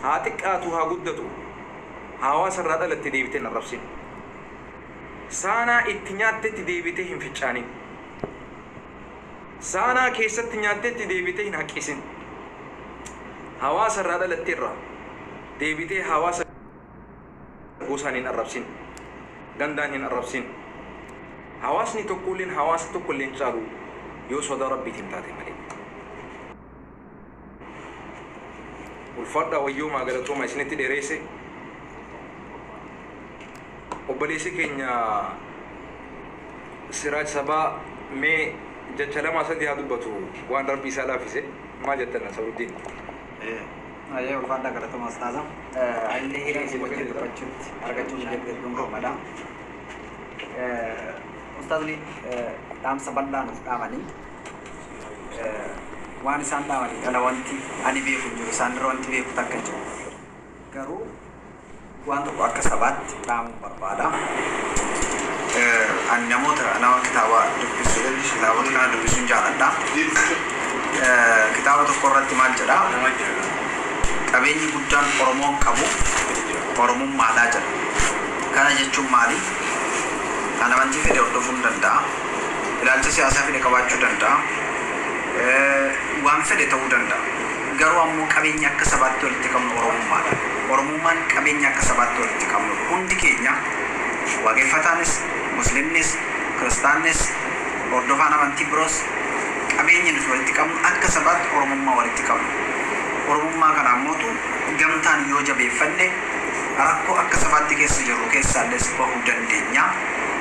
Haa xiqqaatu haa guddatu hawaasa irraa dhalatte deebitee hin arrabsin. Saanaa itti nyaattetti deebitee hin ficcaanin. Saanaa keessatti nyaattetti deebitee hin haqqisin. Hawaasa irraa dhalatte irraa deebitee hawaasa gosaan hin arrabsin. Gandaan hin arrabsin. Hawaasni tokkolleen hawaasa tokkollee hin caalu yoo sodaa Rabbiitiin taate malee. Ulfaadhaa wayyoomaa galatooma isinitti dhereesse Obboleessi keenya Siraaj Sabaa mee jacha lamaa sadii haa dubbatu waan rabbi isaa laafise maa jettan Nasaruddiin Ayyee ulfaadhaa galatoma ustaaza. Illee hiree si wajjin dubbachuutti argachuu mijeetti hedduun gammada. Ustaazni dhaamsa bal'aa nuuf dhaamanii Waan isaan dhaamaniif ala wanti ani beeku hin jiru. Isaan irra wanti beeku takka hin jiru. Garuu waan tokko akka sabaatti dhaamuun barbaada. Ani namoota nama kitaaba dubbisu heddu kitaabota kana dubbisuun jaaladha. Kitaaba tokko irratti maal jedha? Qabeenyi guddaan Oromoon qabu Oromummaadha jedha. Kana jechuun maali? Ani amantii fedhe hordofuun danda'a. Ilaalcha siyaasaa fedhe qabaachuu danda'a. Waan fedhe ta'uu danda'a. Garuu ammoo qabeenyi akka sabaatti walitti qabnu Oromummaadha. Oromummaan qabeenya akka sabaatti walitti qabnudha. Hundi keenya Waaqeffataanis, Musliimnis, Kiristaannis, hordofaan amantii biroos qabeenyi nuti walitti qabnu akka sabaatti Oromummaa walitti qabna. Oromummaa kana ammootu gamtaan yoo jabeeffanne rakkoo akka sabaatti keessa jirru keessaallees bahuu dandeenya.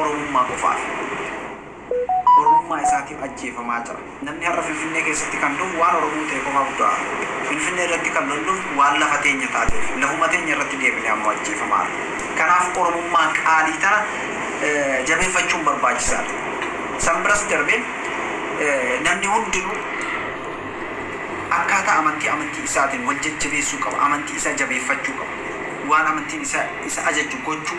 Oromummaa qofaaf Oromummaa isaatiif ajjeefamaa jira. Namni har'a Finfinnee keessatti kan du'u waan Oromoo ta'e qofaaf du'a. Finfinnee irratti kan lolluuf waan lafa teenya taateef lafuma teenya irratti deebinee ammoo ajjeefamaarra. Kanaaf Oromummaa qaalii tana jabeeffachuun barbaachisaadha. San biras darbee namni hundinuu akkaataa amantii amantii isaatiin wal jajjabeessuu qaba. Amantii isaa jabeeffachuu qaba. Waan amantiin isaa isa ajajju gochuu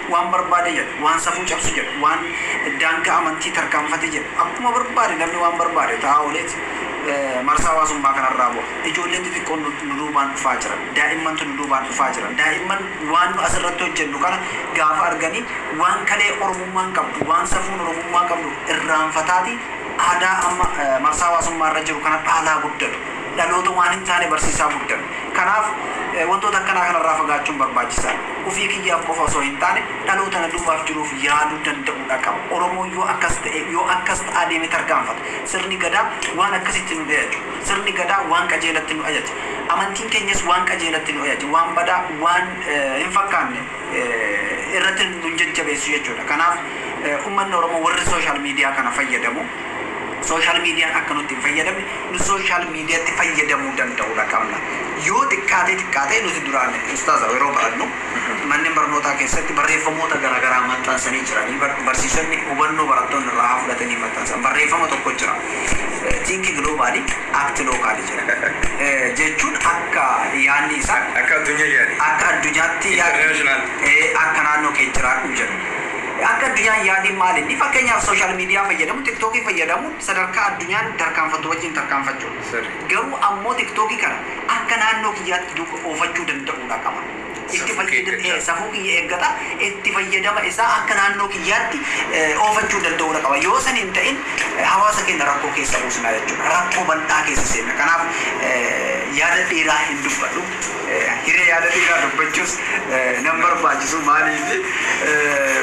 waan barbaade jedhu, waan safuu cabsu jedhu, waan daangaa amantii tarkaanfate jedhu, akkuma barbaade namni waan barbaade ta'aa ooleet marsaa hawaasummaa kanarraa bu'a. Ijoolleen xixiqqoon nu nu duubaan dhufaa jiran. Daa'immantu nu duubaan dhufaa jiran. Daa'imman waan nu asirratti hojjennu kana gaafa arganii waan kalee Oromummaan qabdu, waan safuun Oromummaa qabdu irraanfataati aadaa amma marsaa hawaasummaa irra jiru kana dhaalaa guddatu. Dhaloota waan hin taane barsiisaa guddatu. Kanaaf wantoota akkanaa kanarraa fagaachuun barbaachisaadha. Ofii kiyyaaf qofa osoo hin taane dhaloota na duubaaf jiruuf yaaduu danda'uudha qaba. Oromoon yoo akkas ta'e, yoo akkas ta'aa deeme tarkaanfata. Sirni Gadaa waan akkasitti nu dheechu. Sirni Gadaa waan qajeelatti nu ajaja. Amantiin keenyas waan qajeelatti nu ajaja. Waan badaa, waan hin fakkaanne irratti nun jajjabeessu jechuudha. Kanaaf ummanni Oromoo warri social media kana fayyadamu, Social median akka nutti hin fayyadamne nu social mediatti fayyadamuu danda'uudha qabna. Yoo xiqqaatee xiqqaatee nuti duraan ustaaza yeroo barannu manneen barnootaa keessatti barreeffamoota garagaraa maxxansanii jiranii bar barsiisonni hubannoo barattoonni irraa haa fudhatanii maxxansan barreeffama tokko jira think globally act locally jedha. Jechuun akka yaanni isaa Akka addunyaa yaadi. akka addunyaatti yaadi International. ee akka naannoo kee jiraadhu jedha. Akka addunyaa hin yaadiin maal inni? Fakkeenyaaf social media fayyadamu, tiktok fayyadamu, sadarkaa addunyaan tarkaanfattu wajjin tarkaanfachuudha. Sirrii. Garuu ammoo tiktok kana akka naannoo kiyyaatti duuka oofachuu danda'uudha qaba. Itti Safuu kee fayyadam eeggachaa. ee safuu kiyya eeggata, itti fayyadama isaa akka naannoo kiyyaatti eh, oofachuu danda'uudha qaba. Yoo san hin ta'in eh, hawaasa keenya rakkoo keessa buusna jechuudha. Rakkoo bal'aa keessa seenna. Kanaaf eh, yaada dheeraa hin dubbadhu. Hiree yaada xiqqaa dubbachuus nan barbaachisu maaliif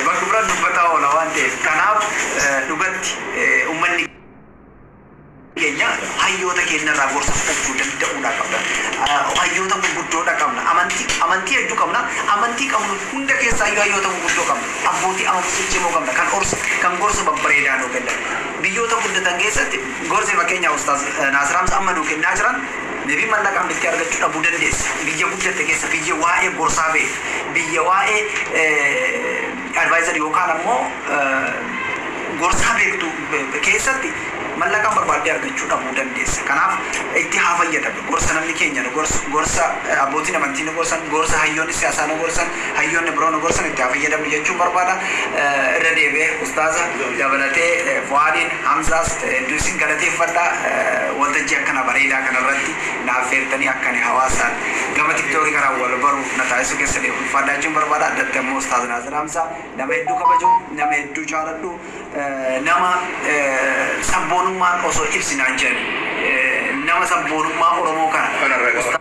bakka biraan dubbataa oola waan ta'eef kanaaf dhugatti ummanni keenya hayyoota keenya irraa gorsa fudhachuu danda'uudhaa qabna hayyoota gurguddoodha qabna amantii amantii hedduu qabna amantii qabnu hunda keessaayyuu hayyoota gurguddoo qabna abbootii amantii ciccimoo qabna kan orsa kan gorsa babbareedaa nuu kennan biyyoota guddatan keessatti gorsi fakkeenyaaf ustaaz naasir hamza amma nuu kennaa jiran Deebii mallaqa hambiftii argachuu dhabuu dandeessu biyya guddatte keessa biyya waa'ee gorsaa beektu biyya waa'ee advisor yookaan ammoo gorsaa beektu keessatti mallaqaan barbaaddee argachuu dhabuu dandeessa kanaaf itti haa fayyadamnu gorsa namni keenya nu gorsu gorsa abbootiin amantii nu gorsan gorsa hayyoonni siyaasaa nu gorsan hayyoonni biroo nu gorsan itti haa fayyadamnu jechuun barbaada irra deebi'ee ustaaza dabalatee fu'aadiin Hamzaas hedduu isin galateeffadha waltajjii akkana bareedaa kana irratti na affeertanii akka ani hawaasaan gama tiktoki kanaan wal baru na taasisuu keessaniif ulfaadhaa jechuun barbaada addatti ammoo ustaaz Naasir Hamzaa nama hedduu kabaju nama hedduu jaaladhu nama sabboonummaan osoo ibsi naan jedhani nama sabboonummaa Oromoo kana ustaaz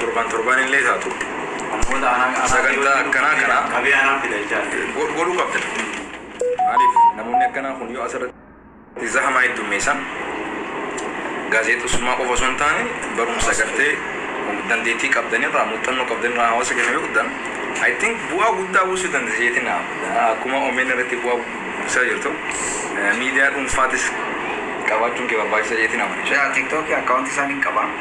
Torban torbaan illee taatu sagantaa akkanaa kana godhuu qabda. Maaliif namoonni akkanaa kun yoo asirratti zahamaa heddummeessan gaazexessummaa qofa osoo hin taane barumsa gartee dandeettii qabdan irraa muuxannoo qabdan irraa hawaasa keenya yoo guddan I think bu'aa guddaa buusuu dandeessa jeetiin akkuma omn irratti bu'aa buusaa jirtu miidiyaa dhuunfaatis qabaachuun kee barbaachisa jeetiin amana. Tiktookii akkaawuntii isaan hin qabaa.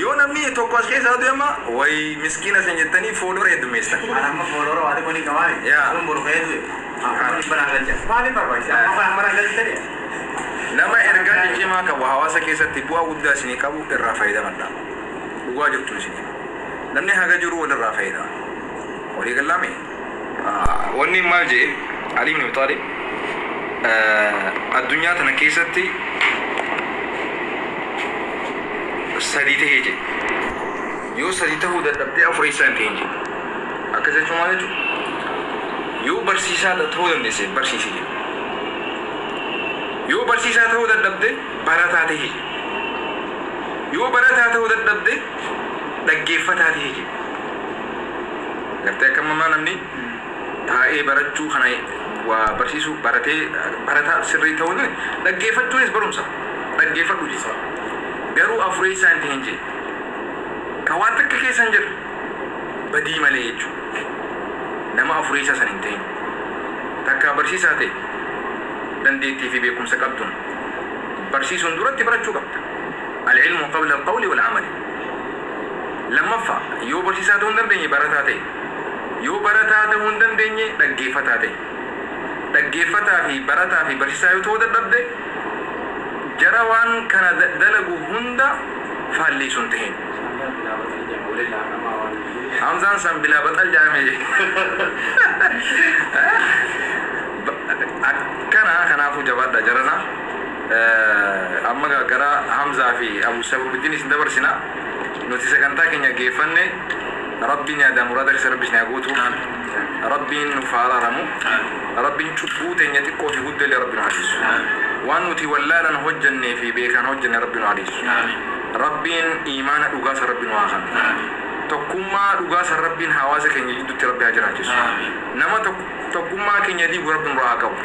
Yoo namni tokko as keessaa du'e amma way miskiina isin jettanii follower heddummeessitan. An amma follower waa xiqqoo ni qaba miti. Yaa. Kun boru ka'ee du'e. An kuma dhibba naa galcha. Maaliif barbaachisa? Amma kan amma naa galchitanii? Nama ergaa ciccimaa qabu hawaasa keessatti bu'aa guddaa isinii qabu irraa fayyadamadha. Dhugaa jirtun isinii hima. Namni haga jiruu walirraa fayyadama. Walii gallaamii? Wanni maal jee Ali ibn Abi Talib addunyaa tana keessatti sadii tahee jee yoo sadii tahuu dadhabdee afureessaa hin tahin jee akkas jechuu maal jechuu yoo barsiisaa tahuu dandeesse barsiisi jee yoo barsiisaa tahuu dadhabde barataa tahi jee yoo barataa tahuu dadhabde dhaggeeffataa ta'e jiru. Gartee akka amma maa namni taa'ee barachuu kana waa barsiisuu baratee barataa sirrii ta'uu ni dhaggeeffachuunis barumsa dhaggeeffadhu jee. Garuu afureessaa hin ta'in jee. Ka waan takka keessa hin jirre badii malee jechuu. Nama afureessaa san hin ta'in. Takkaa barsiisaa ta'e dandeettii fi beekumsa qabduun barsiisuun duratti barachuu qabda. Al-ilmu qabla al-qawli wal-amali. 2ffaa, Yoo barsiisaa ta'uu hin dandeenye barataa ta'i. Yoo barataa ta'uu hin dandeenye dhaggeeffataa ta'i. Dhaggeeffataa fi barataa fi barsiisaa yoo ta'uu dadhabde jara waan kana dalagu hunda faallii sun tahin. Hamzaan san bilaa baxal ja'ame je. Akkana kanaafuu jabaadhaa jaranaa. Amma egaa gara Hamzaa fi Abu Sabruddin isin dabarsina. Nuti sagantaa keenya gaggeeffanne Rabbiin yaadaan muraada keessa Rabbi isin haa guutu. Rabbiin nuuf haa araaramu. Rabbiin cubbuu teenya xiqqoo fi guddoo illee Rabbi nu haa dhiisu. Waan nuti wallaalan hojjannee fi beekaan hojjanne Rabbi nu haa dhiisu. Rabbiin iimaana dhugaa san Rabbi nu haa kanu. Tokkummaa dhugaa san Rabbiin hawaasa keenya jiddutti Rabbi haa jiraachisu. Nama tokkummaa keenya diigu Rabbi nurraa haa qabu.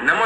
Nama